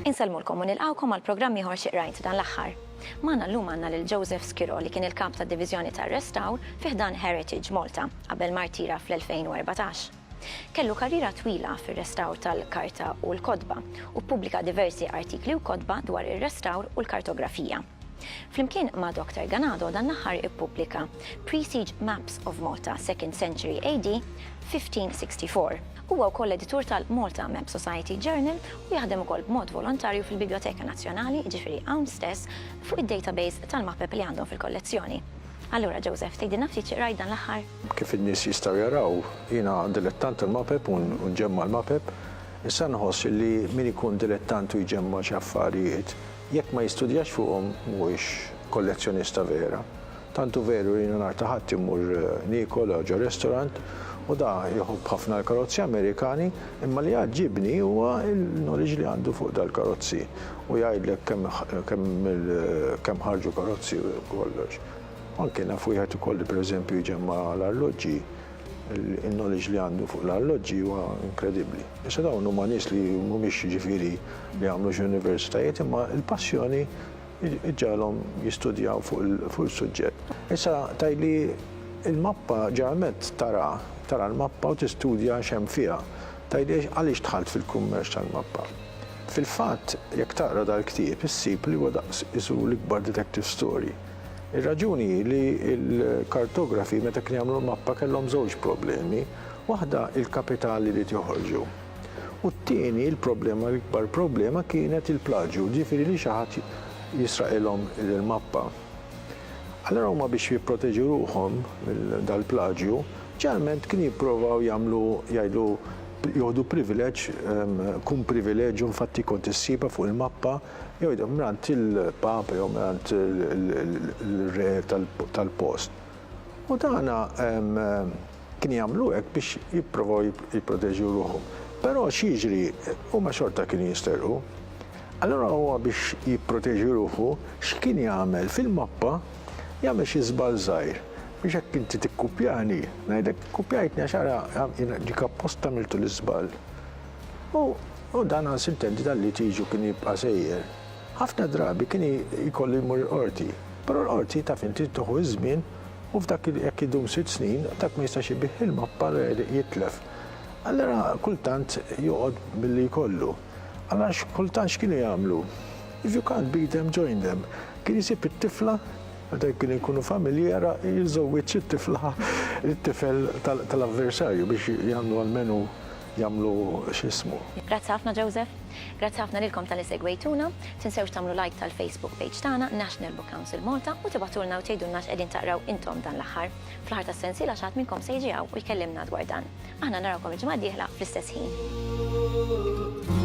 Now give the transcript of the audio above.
Insellmulkom u nilqgħukom għal programm ieħor xi qrajt dan l-aħħar. Magħna llum għandna lil Joseph Skiro li kien il-Kap tad-Diviżjoni tar-Restawr fi ħdan Heritage Malta qabel ma rtira fl-2014. Kellu karriera twila fir-restawr tal-karta u l-kotba, u ppubblika diversi artikli u kotba dwar ir-restawr u l-kartografija. Flimkien ma' Doctor Ganado dan l-aħħar ippubblika Pre-Siege Maps of Malta, Second Century AD, 1564. Huwa wkoll editur tal-Malta Map Society Journal u jaħdem ukoll b'mod volontarju fil-Bibljoteka Nazzjonali, jiġifieri hawn stess, fuq id-database tal-mapep li għandhom fil-kollezzjoni. Allura, Joseph, tgħidilna ftit xi qrajt dan l-aħħar? Kif in-nies jistgħu jaraw, jiena dilettant tal-mapep u nġemma' l-mapep. Issa nħoss illi min ikun dilettant u jġemma' xi affarijiet, jekk ma jistudjax fuqhom mhuwiex kollezzjonista vera. Tant hu veru li jiena nhar ta' Ħadd immur niekol ġo restorant u da jħobb ħafna l-karozzi Amerikani imma li jgħaġġibni huwa l-knowledge li għandu fuq dal-karozzi u jgħidlek kemm kemm kemm ħarġu karozzi u kollox. Anke naf wieħed ukoll li pereżempju jġemma' l-arloġġi, il-knowledge li għandu fuq l-arloġġi huwa inkredibbli. Issa dawn huma nies li mhumiex jiġifieri li għamlux universitajiet imma l-passjoni ġġagħalhom jistudjaw fuq il-suġġett. Issa tgħidli l-mappa ġeneralment tara, tara l-mappa u tistudja x'hemm fiha. Tgħidli għaliex dħalt fil-kummerċ tal-mappa. Fil-fatt jekk taqra dal-ktieb issib li huwa daqs qisu l-ikbar detective story. Ir-raġuni hi li l-kartografi meta kienu jagħmlu l-mappa kellhom żewġ problemi, waħda il-kapital li ried joħorġu. U t-tieni l-problema l-ikbar problema kienet il-plaġju, ġifieri li xi ħadd jisraqilhom il-mappa. Allura huma biex jipproteġu ruħhom minn dal-plaġju, ġeneralment kienu jipprovaw jagħmlu jgħidu joħdu privileġġ, kun privileġġ u infatti kont issibha fuq il-mappa, jew jidhom mingħand il-Papa jew mingħand ir-Re tal-post. U dan kien jagħmlu hekk biex jipprovaw jipproteġu ruħhom. Però x'jiġri? Huma xorta kienu jisterqu. Allura huwa biex jipproteġi ruħu x'kien jagħmel? Fil-mappa jagħmel xi żball żgħir biex jekk inti tikkupjani, ngħidlek, ikkupjajtni għax ara jien dik apposta għamiltu l-iżball. U dan għal sintenti dan litiġju kien jibqa' sejjer. Ħafna drabi kien jkollu jmur il-qorti. Però l-qorti taf inti tieħu iż-żmien u f'dak jekk idum sitt snin dak ma jistax ibigħ ilma b'parer jitlef. Allura kultant joqgħod billi jkollu. Allura kultant x'kienu jagħmlu? If you can't beat them, join them. Kien isib it-tifla, meta kienu jkunu familji ara jiżżewwieġ it-tifla lit-tifel tal-avversarju biex jagħmlu almenu jagħmlu x'ismu. Grazzi ħafna Joseph. Grazzi ħafna lilkom talli segwejtuna. Tinsewx tagħmlu like tal-Facebook page tagħna, National Book Council Malta, u tibagħtulna u tgħidulna x'qegħdin taqraw intom dan l-aħħar. Fl-aħħar tas-sensiela xi ħadd minnkom se jiġi hawn u jkellimna dwar dan. Aħna narawkom il-ġimgħa d-dieħla fl-istess ħin.